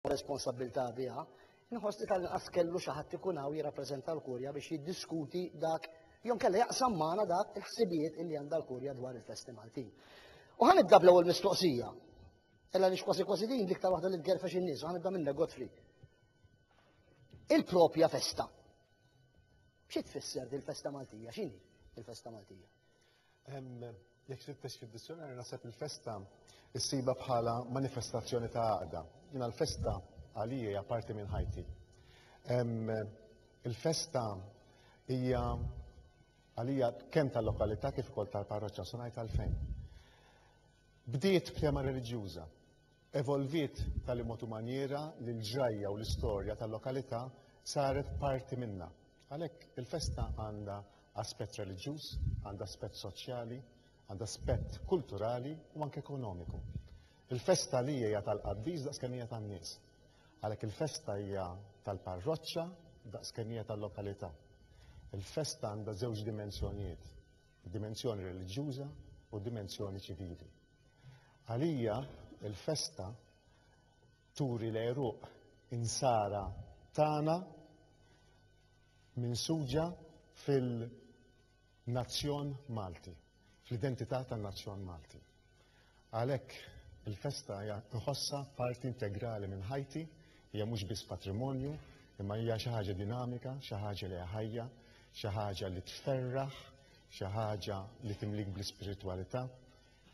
responsabbiltà biha, inħoss li tal-inqas kellu xi ħadd ikun hawn jirrappreżenta l-Kurja biex jiddiskuti dak jew kellha jaqsam magħna dak il-ħsibijiet li għandha l-Kurja dwar il-festi Maltin. U ħan nibda bl-ewwel mistoqsija. Ella nix kważi kważi din l-iktar waħda li tgerfex in-nies, ħan nibda minna Godfrey. Il-propja festa. Xi tfisser din festa Maltija? X'inhi il-festa Maltija? Jekk tfittex fid-dizjonarju naħseb il-festa issibha bħala manifestazzjoni ta' għaqda. Jiena l-festa għalija hija parti minn ħajti. Il-festa hija għalija kemm tal-lokalità kif ukoll tal-parroċċa, se ngħid għalfejn. Bdiet b'tema reliġjuża, Evolviet b'tali mod u manjiera li l-ġrajja u l-istorja tal-lokalità saret parti minnha. Għalhekk, il-festa għandha aspett reliġjuż, għandha aspett soċjali, għandha aspett kulturali u anke ekonomiku. Il-festa għalija hija tal-qaddis daqs kemm hija tan-nies. Għalhekk il-festa hija tal-parroċċa daqs kemm hija tal-lokalità. Il-festa għandha żewġ dimensjonijiet, id-dimensjoni reliġjuża u d-dimensjoni ċivili. Għalija l-festa turi l-għeruq insara tagħna minsuġa fil-nazzjon Malti, fl-identità tan-nazzjon Malti. Għalhekk il-festa hija nħossha parti integrali minn ħajti, hija mhux biss patrimonju, imma hija xi ħaġa dinamika, xi ħaġa li ħajja, xi ħaġa li tferraħ, xi ħaġa li timlik bl-ispiritwalità,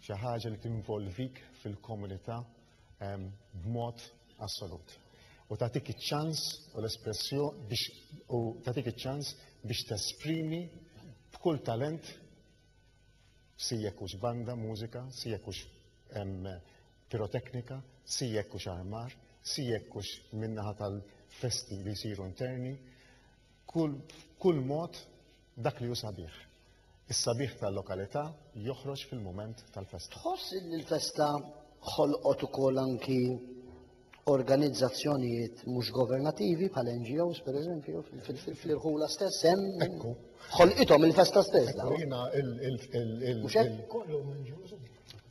Xi ħaġa li tinvolvik fil-komunità b'mod assolut u tagħtik iċ-ċans u l-espressjoni biex u tagħtik iċ-ċans biex tesprimi b'kull talent si jekk hux banda mużika, si jekk hux piroteknika, si jekk hux armar, si jekk hux min-naħa tal-festi li jsiru interni, kull mod Dak li hu sabiħ. Is-sabiħ tal-lokalità joħroġ fil-mument tal-festa. Tħoss li l-festa ħolqot ukoll anki organizzazzjonijiet mhux governativi bħal NGOs per eżempju fil-irħula stess hemm ekku ħolqithom il-festa stess. Ekku jiena il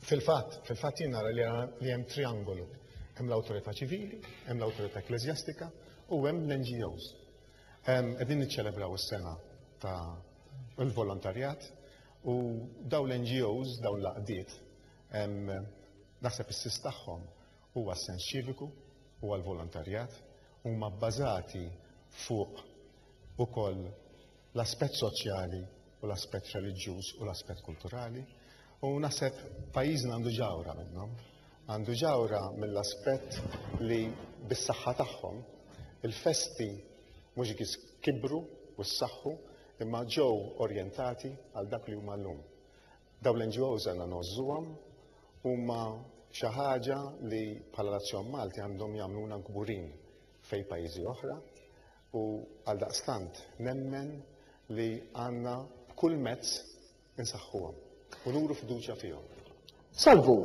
fil-fatt fil-fatt jiena li hemm triangolu hemm l-awtorità ċivili, hemm l-awtorità ekklesjastika u hemm l-NGOs. Qegħdin niċċelebraw is-sena ta' l-volontarjat u daw l-NGOs, daw l-għaqdiet, naħseb is-sis tagħhom huwa s-sens ċiviku, huwa l-volontarjat, huma bbażati fuq ukoll l-aspett soċjali u l-aspett reliġjuż u l-aspett kulturali u naħseb pajjiżna għandu ġawra minnhom. Għandu ġawhra mill-aspett li bis-saħħa tagħhom, il-festi mhux biss kibru u ssaħħu imma ġew orjentati għal dak li huma llum. Dawn l-NGOs għandna ngħożżuhom, huma xi ħaġa li bħala Nazzjon Malti għandhom jagħmluna kburin fejn pajjiżi oħra u għaldaqstant nemmen li għandna b'kull mezz Insaħħuhom u nuru fiduċja fihom. Salvu!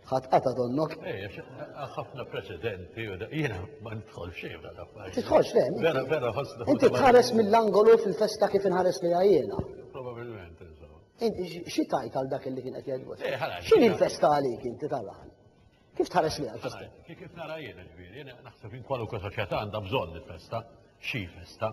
ħadd qata donnok. Eh, ħafna preċedenti u jiena ma nidħol xejn dal affarijiet. Tidħolx le. Vera vera ħossna. Inti tħares mill-angolu fil-festa kif inħares li għajjena. Probabilment insomma. Inti xi tajt għal dak li kien qed jgħidu? Eh, X'in il-festa għalik inti tal-għan? Kif tħares li għal-festa? Kif nara jiena ġviri, jiena naħseb in kwaluka soċjetà għandha bżonn il-festa, xi festa.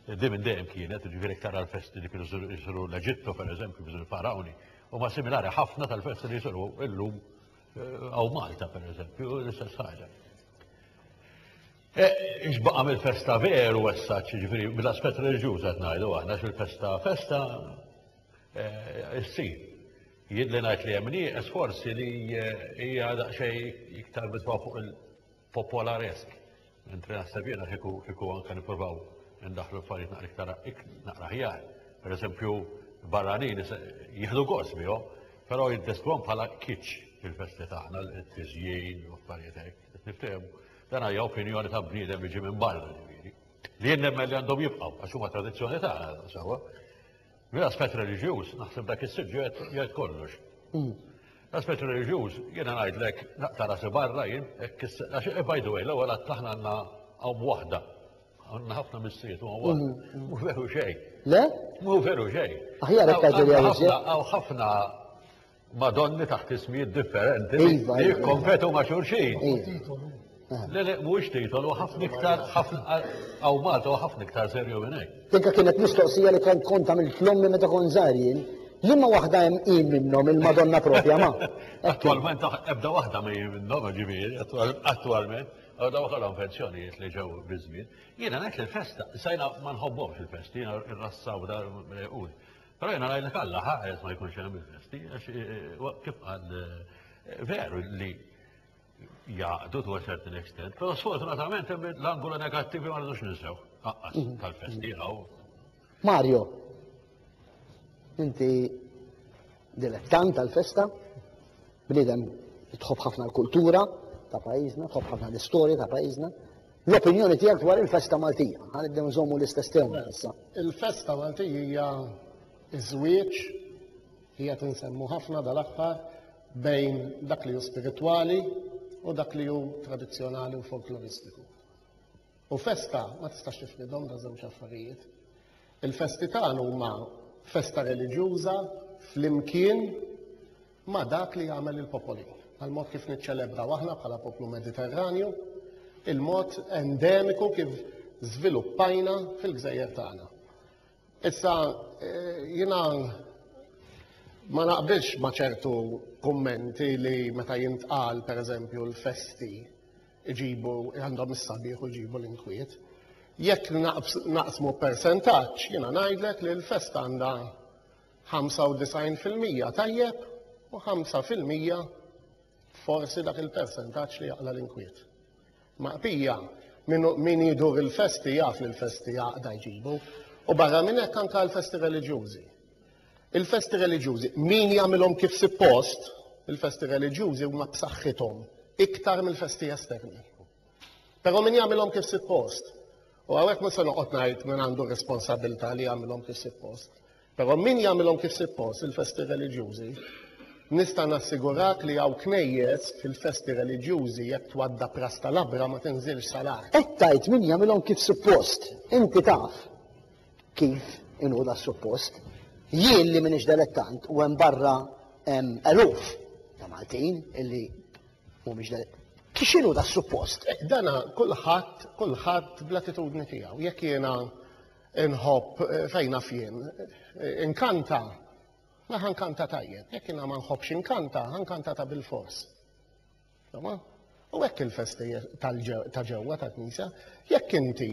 Di minn dejjem kienet, ġviri ktar għal-festi li kienu jisru l-Eġittu, per eżempju, biżu l-farawni, u ma similari ħafna tal-festi li jisru illum eh, għaw Malta, per eżempju, l-istess ħaġa. Iġbaqa eh, mill-festa veru għessaċ, ġviri, mill-aspet reġjuż għatnajdu għahna, xil-festa festa, festa eh, s-sir. Jidhli ngħid li hemm nieqes forsi li hija daqsxejn iktar mitfa' fuq il-popolaresk. Mentri naħseb jiena kieku kieku anke nippruvaw indaħħlu affarijiet naqra iktar naqra aħjar. Pereżempju, barranin jieħdu gost bihom, però jiddeskrivuhom bħala kitsch il-festi tagħna, it-tiżjin u affarijiet hekk. Qed niftehmu. Dan hija opinjoni ta' bniedem li ġie minn barra ġifieri. Li jien nemmen li għandhom jibqgħu għax huma tradizzjoni tagħna sewwa. Mill-aspett reliġjuż, naħseb dak is-suġġett jgħid kollox. L-aspett reliġjuż, jiena ngħidlek naqta' rasi barra jien, hekk is- għax eh, by the way, l-ewwel għadd aħna għandna hawn waħda. Għandna ħafna missijiet u hawn waħda. Mhu veru xejn. Le? Mhu veru xejn. Aħjar hekk għaġel Hawn- jgħid hawn ħafna- Hawn ħafna ma' donni taħt ismijiet differenti li iva, iva, iva. jikkompetu ma' xurxin. Le, le, mhuwiex titolu, ħafna iktar, għaw Malta u ħafna iktar serju minn hekk. Tinka kienet mistoqsija li kont kont għamil tlommi meta kon żgħarjin, li ma waħda hemm qim minnhom il-Madonna propja ma. Attualment ebda waħda ma jien minnhom ġifieri, attualment. Għaw daw għalhom pensjonijiet li ġew biżmien. Jiena ngħid li l-festa, sajna ma nħobbhomx il-festi, jiena r-rassaw dar Però jena ngħidlek Alla ħares ma jkunx hemm il-festi għax kif qal veru li jaqdu to a certain extent, pero sfortunatament hemm l-angolo negattivi ma rridux ninsew. Aqqas mhm. tal-festi għaw. Mario, inti dilettant tal-festa, bnidem tħobb ħafna l-kultura ta' pajjiżna, tħobb ħafna l-istorja ta' pajjiżna, L-opinjoni tiegħek dwar il-festa Maltija. Ħa nibdew nżommu l-istess tema issa. Il-festa Maltija hija ż-żwieġ, li qed insemmu ħafna dal-aħħar, bejn dak li hu spiritwali u dak li hu tradizzjonali u folkloristiku. U festa ma tistax tifridhom da żewġ affarijiet. Il-festi tagħna huma festa reliġjuża flimkien ma' dak li jagħmel il-popoli, għall-mod kif niċċelebraw aħna bħala poplu Mediterranju, il-mod endemiku kif żviluppajna fil-gżejjer tagħna. Issa eh, jiena ma naqbilx ma' ċertu kummenti li meta jintqal pereżempju l-festi iġibu għandhom is-sabiħ u jġibu l-inkwiet. Jekk naqsmu persentaġġ, jiena ngħidlek li l-festa għandha 95% tajjeb u 5% forsi dak il-persentaġġ li jaqla l-inkwiet. Maqpija, min jidur il-festi jaf li l-festi jaqda jġibu, u barra minn hekk anka l-festi reliġjużi. Il-festi reliġjużi, min jagħmilhom kif sippost, il-festi reliġjużi huma b'saħħithom iktar mill-festi esterni. Però min jagħmilhom kif sippost, u hawnhekk mhux se noqgħod ngħid min għandu r-responsabilità li jagħmilhom kif sippost, però min jagħmilhom kif sippost il-festi reliġjużi, nista' nassigurak li hawn knejjes fil-festi reliġjużi jekk twadda pras tal-abra ma tinżilx sal-art. Qed tgħid min jagħmilhom kif sippost, inti taf. kif inhu da suppost, jien li minix delettant u hemm barra hemm eluf ta' Maltin illi mhumiex delettant. X'inhu da suppost? Eh, dana kulħadd kulħadd bl-attitudni tiegħu. Jekk jiena nħobb eh, fejna fien eh, inkanta, ma ħankanta tajjeb. Jekk jiena ma nħobbx inkanta, ħankanta ta' bil-fors. Insomma, u hekk il-festi ta' ġewwa ta' knisja, jekk inti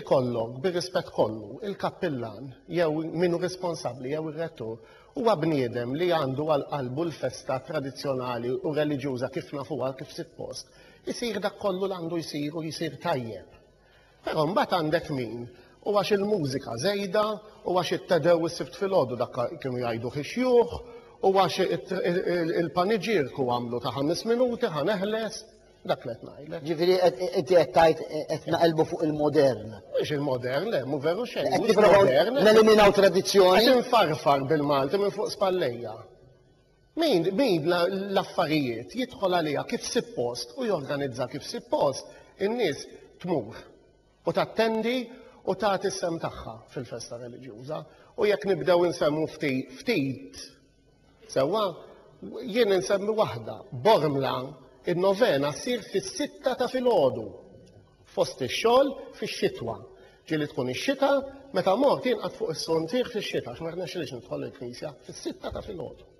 ikollok bir-rispett kollu il-kappillan jew minu responsabbli jew ir-rettur huwa bniedem li għandu għal qalbu l-festa tradizzjonali u reliġjuża kif nafuha kif sitt post, isir dak kollu l għandu jsir u jsir tajjeb. Però mbagħad għandek min, u għax il-mużika żejda, u għax it-Te Dew is-Sibt filgħodu dak kienu jgħiduh ix-xjuħ, u għax il-paniġierku għamlu ta' ħames minuti ħa neħles, dak li qed ngħidlek. Ġifieri inti qed tgħid qed naqilbu fuq il-modern. Mhux il-modern, le, mhu veru xejn. Qed nipprovaw neliminaw tradizzjoni. Qed infarfar bil-Malti minn fuq spallejja. Min, min l-affarijiet jidħol għaliha kif sippost u jorganizza kif sippost, in-nies tmur u tattendi u tagħti s-sehem tagħha fil-festa reliġjuża. U jekk nibdew insemmu ftit, ftit, sewwa, jien insemmi waħda, Bormla, in-novena ssir fis-sitta ta' filgħodu. fost ix-xogħol fix-xitwa. Ġieli tkun ix-xita, meta mort jinqat fuq is-sontiħ fix-xita, għax ma rnexxilix nidħol il-knisja fis-sitta ta' filgħodu.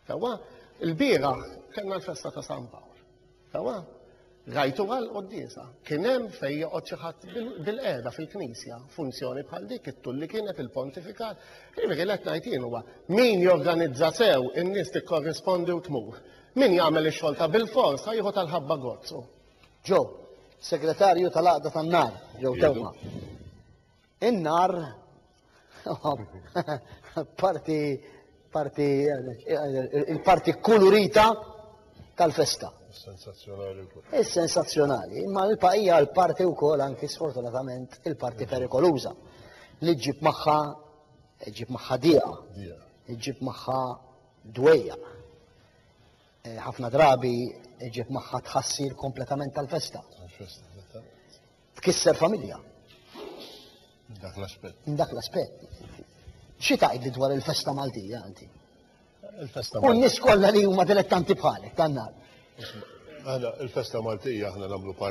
Sewwa, il-bieraħ kellna l-festa ta' San Pawl. Sewwa, rajtu għal qoddisa. Kien hemm fejn joqgħod xi ħadd bil-qiegħda fil-knisja, funzjoni bħal dik it-tul li kienet il-pontifikat. Jiġifieri li qed ngħid huwa min jorganizza sew in-nies tikkorrispondi u tmur. Min jagħmel ix-xogħol ta' bil-fors ħajħu tal-ħabba gozzu. Ġo, segretarju tal-għaqda tan-nar, jew tewma. In-nar, parti, parti, il-parti kulurita tal-festa. Sensazzjonali wkoll. Is-sensazzjonali, imma l-paqija l-parti wkoll anki sfortunatament il-parti perikoluża li ġib magħha ġib magħha dieqa, ġib magħha dwejja. ħafna drabi ġieb magħha tħassir kompletament tal-festa. Tkisser familja. Dak l-aspett. Dak l-aspett. Xi tgħidli dwar il-festa Maltija inti? Il-festa U n-nies kollha li huma dilettanti bħalek tan-nar. Għala, il-festa Maltija aħna nagħmlu parti